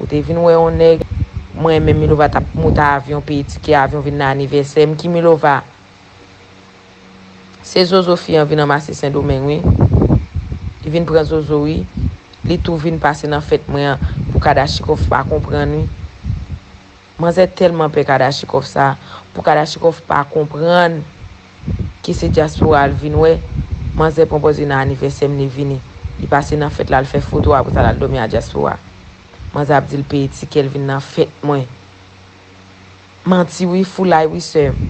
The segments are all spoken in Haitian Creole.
Ou te vin wè yon nèg. Mwen menm Milova t ap moute avyon peye tikè avyon vin nan anivèsè m ki Milova? Se zozo fi an vin anmase sendomeng wi Li vin pran zozo wi Li tou vin pase nan fèt mwen an pou kadachikòf pa konprann wi. Manzè tèlman pè kadachikòf sa pou kadachikòf pa konprann ke se dyaspora l vin wè, manzè pran pòz li nan anivèsè m li vini, li pase nan fèt la l fè foto apre sa l al dòmi a dyaspora. Manzè ap di l peye tikè l vin nan fèt mwen. Manti wi, foulay wi sè m.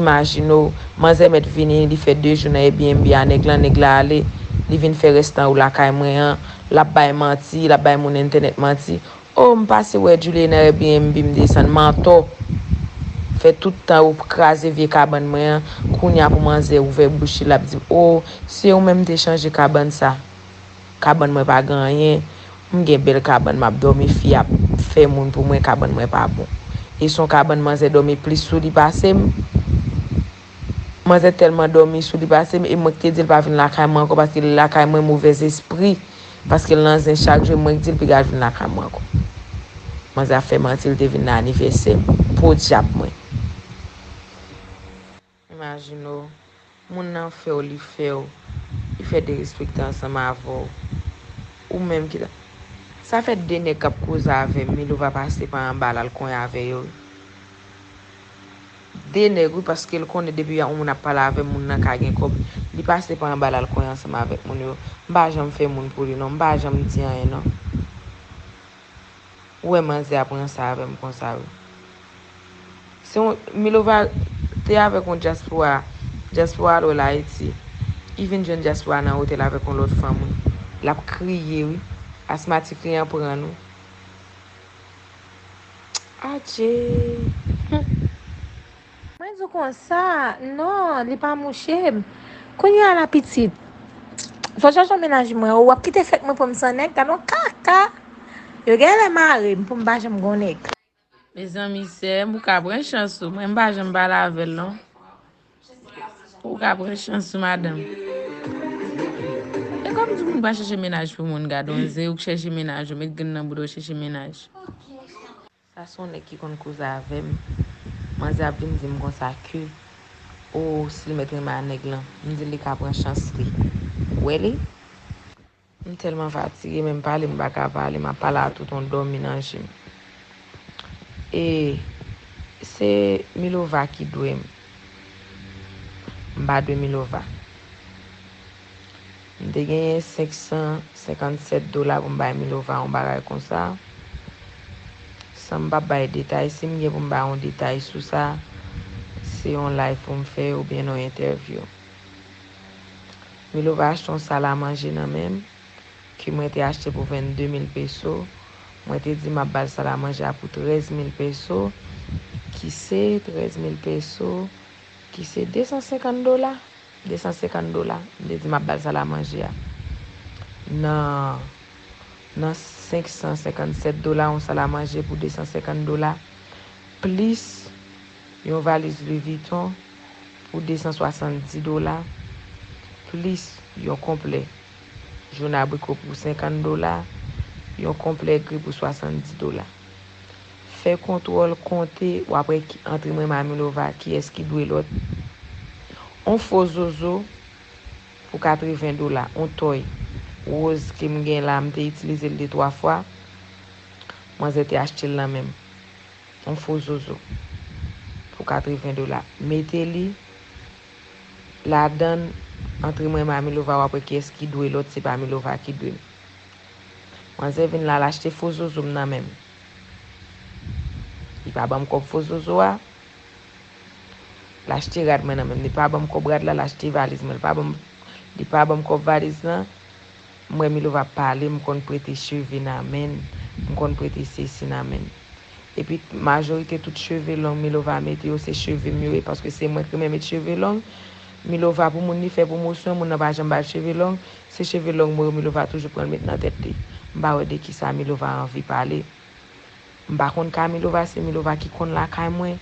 Imajine w, manzè mèt vini li fè 2 jou nan Airbnb a nèg lan, nèg la ale, li vin fè rès tan ou lakay mwen an, l ap bay manti, l ap bay moun entènèt manti, Oh m pase wè Djoulie nan Airbnb m desann Mantò fè tout tan ou kraze vye kabann mwen an kounya pou manzè ouvè bouch li lap dim oh se ou menm m te chanje kabann sa kabann mwen pa gen anyen m gen bèl kabann map dòmi fi ap fè moun pou mwen kabann mwen pa bon e son kabann manzè dòmi plis sou li pase m Manzè tèlman dòmi sou li pase m e mwen k te di l pa vin lakay mwen ankò paske li lakay mwen movèzespri paske l nan zen chak jou e mwen k di l piga l vin lakay mwen ankò. Manzè ap fè manti li te vin nan anivèsè m. Podyab mwen. Imajine w, moun nan fè w li fè w, li fè derespekte ansanm avè w. Ou menm ki ta. Sa fè 2 nèg k ap koze avè m Milova pase pa anba l al konyen avè yo wi. 2 nèg wi paske l konnen depi yon moun ap pale avè moun nan ka gen kòb li pase pa anba lal kwen ansanm avèk moun yo m pa janm fè moun pou li non m pa janm di anyen non ou wè manzè a pran sa avèm konsa wi se yon milova te avèk yon dyaspora dyaspora al wèl ayiti li vin jwenn dyaspora nan otèl avèk yon lòt fanm wi lap kriye wi asmatik li an prann wi. Adjee. Mwen di w konsa, non, li pa mouche m. Kounye a la pitit, fò w chache mennaj mwen ou. W ap kite fèt mwen pou m san nèg? Gad yon kaka! Yo gen lè mare m pou m pa janm gon nèg. Mezanmi, sèm, ou ka pran chans ou. Mwen m pa janm pale avè l non. Ou ka pran chans ou madanm. E kom di moun pa chèche menaj pou moun gadon ze ou k chèche menaj ou met grenn nan boudaw chèche menaj. Sa son nèg ki konn koze avèm manzè ap vin dim konsa ke oh sil mèt renmen a nèg lan mdil li ka pran chans li wè li. M telman fatige menm pale m paka pale map pale a tout on domi nan jem e se milova ki dwem m pa dwe milova m te genyen 557 dola pou m bay milova on bagay konsa san m pa bay detay si m gen pou m bay on detay sou sa se on live pou m fè oubyen on entèvyou. Milova achte yon sal a manje nan men m, ke mwen te achte pou 22 mil peso, mwen te di m ap ba l sal a manje a pou 13 mil peso, ki se 13 mil peso, ki se 250 dola, 250 dola, m te di m ap ba l sal a manje a. Nan, nan 557 dola yon sal a manje pou 250 dola, plis. Yon valiz Louis Vuitton pou 270 dola, plis yon konplè Joun Abriko pou 50 dola, yon konplè gri pou 70 dola. Fè kontwòl, konte, w ap wè ki antre mwen Mami Lova, kiyès ki dwe lòt. On fo zozo pou 80 dola, on tòy woz ke m gen la, m te itilize l de twa fwa, manzè te achte l nan men m. Yon fo zozo pou 80 dola mete li ladann antre mwen e ma milova wap wè kiyès ki dwe lòt se pa milova ki dwe m manzè vin la lachte fo zozo m nan men m li pa banm kòb fo zozo a lachte rad mwen nan men m li pa banm kòb rad la lachte valiz mwen li pa banm kòb valiz lan. M wè Milova ap pale, m konn prete cheve nan menn, m konn prete sesi nan menn. Epi majorite tout cheve long Milova mete yo se cheve m yo ye paske se mwen k renmen met cheve long. Milova pou moun li fè pwomosyon, moun nan pa janm ba l cheve long, se cheve long mwen yo Milova toujou pran l met nan tèt li. M pa wè de kisa Milova anvi pale. M pa konn ka milova se milova ki konn lakay mwen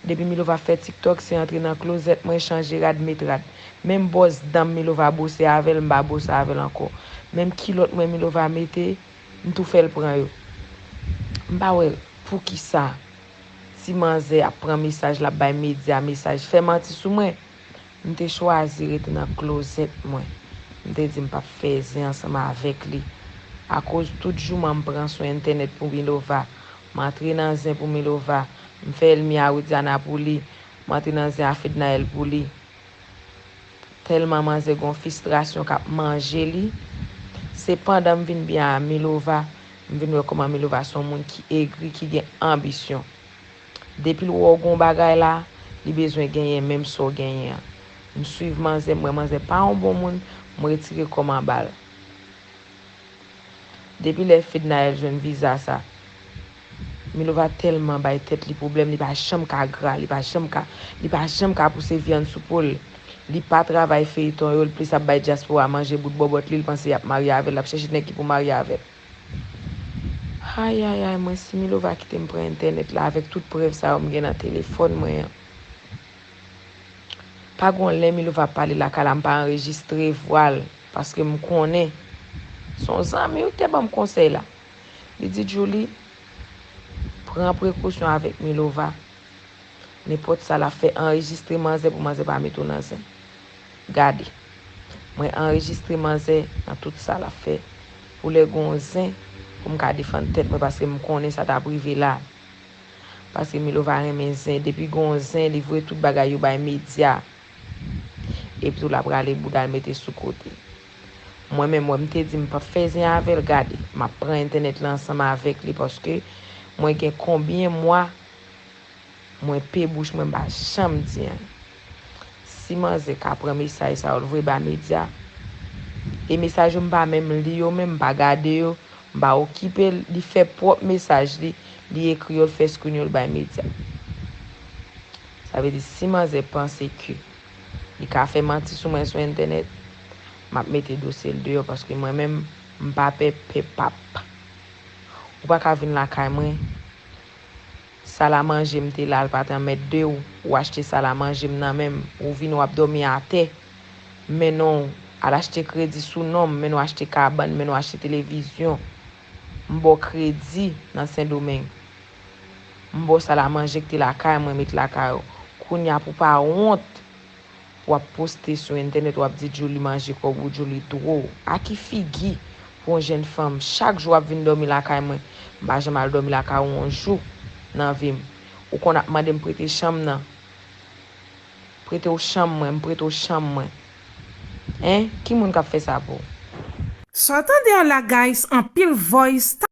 depi milova fè tiktok se antre nan klozèt mwen chanje rad met rad menm bòs danm milova bwose avèl m pa bwose avèl ankò menm kilòt mwen milova mete m tou fèl pran yo m pa wè poukisa ti manzè ap pran mesaj lap bay medya mesaj fè manti sou mwen. M te chwazi rete nan klozèt mwen. M te di m p ap fè zen ansanm avèk li. Akoz tout jouman m pran sou entènèt pou Milova, m antre nan zen pou Milova, m fè Elmi a Widiana pou li, m antre nan zen a Fednaelle pou li. Tèlman manzè gen yon fistrasyon k ap manje li. Se pandan m vin byen a Milova, m vin wè kòman Milova se yon moun ki egri, ki gen anbisyon. Depil wè w gon bagay la li bezwen genyen menm sa w genyen an. M swiv manzè m wè manzè pa yon bon moun m retire kòm anba l. Depi lè Fednaelle jwenn viza sa Milova tèlman bay tèt li pwoblèm li pa janm ka gra li pa janm ka li pa janm ka pouse vyann sou po l li pa travay feyton yo l plis ap bay dyaspora manje bout bòbòt li l panse yap marye avè l lap chèche nèg ki pou marye avè l. Ayayay mwen si milova kitem pran entènèt la avèk tout prèv sa yo m gen nan telefòn mwen an pa gon lè milova ap pale lakay la m pa anrejistre vwa l paske m konnen son zanmi wi kite banm konsèy la li di djoulie pran prekosyon avèk milova nenpòt sa lap fè anrejistre manzè pou manzè pa met ou nan zen. Gade. Mwen anrejistre manzè nan tout sa lap fè pou lè gon zen pou m ka defann tèt mwen paske m konnen sa tap rive la. Paske Milova renmen zen depi gon zen li voye tout bagay yo bay medya. Epi tou lap rale boudal mete sou kote. Mwen menm wè m te di m pap fè zen avèl gade map pran entènèt la ansanm avèk li paske mwen gen konbyen mwa Mwen pe bouch mwen mpa janm di anyn. Si manzè ka pran mesaj sa yo l voye ba medya e mesaj yo mpa menm li yo menm mpa gade yo mpa okipe l li fè pwòp mesaj li li ekri yo l fè screen yo l bay medya sa vle di si manzè panse ke li ka fè manti sou mwen sou entènèt map mete dosye l deyò paske mwen menm mpa pè pè pap ou paka vin lakay mwen Sal a manje m te la l pa t anmèdde w ou achte sal a manje m nan men m ou vin w ap dòmi atè men non w al achte kredi sou non m men n w achte kabann men n w achte televizyon m ba w kredi nan sendomeng m ba w sal a manje k te lakay mwen met lakay ou kounya pou w pa wont wap poste sou entènèt wap di Djoulie manje kòb ou Djoulie dro a ki figi pou yon jèn fanm chak jou wap vin dòmi lakay mwen m pa janm al dòmi lakay ou yon jou nan vim ou konn ap mandem prete chanm nan pretew chanm mwen m prete w chanm mwen hein ki moun kap fè sa pou. Saw tande a la guys anpil voice.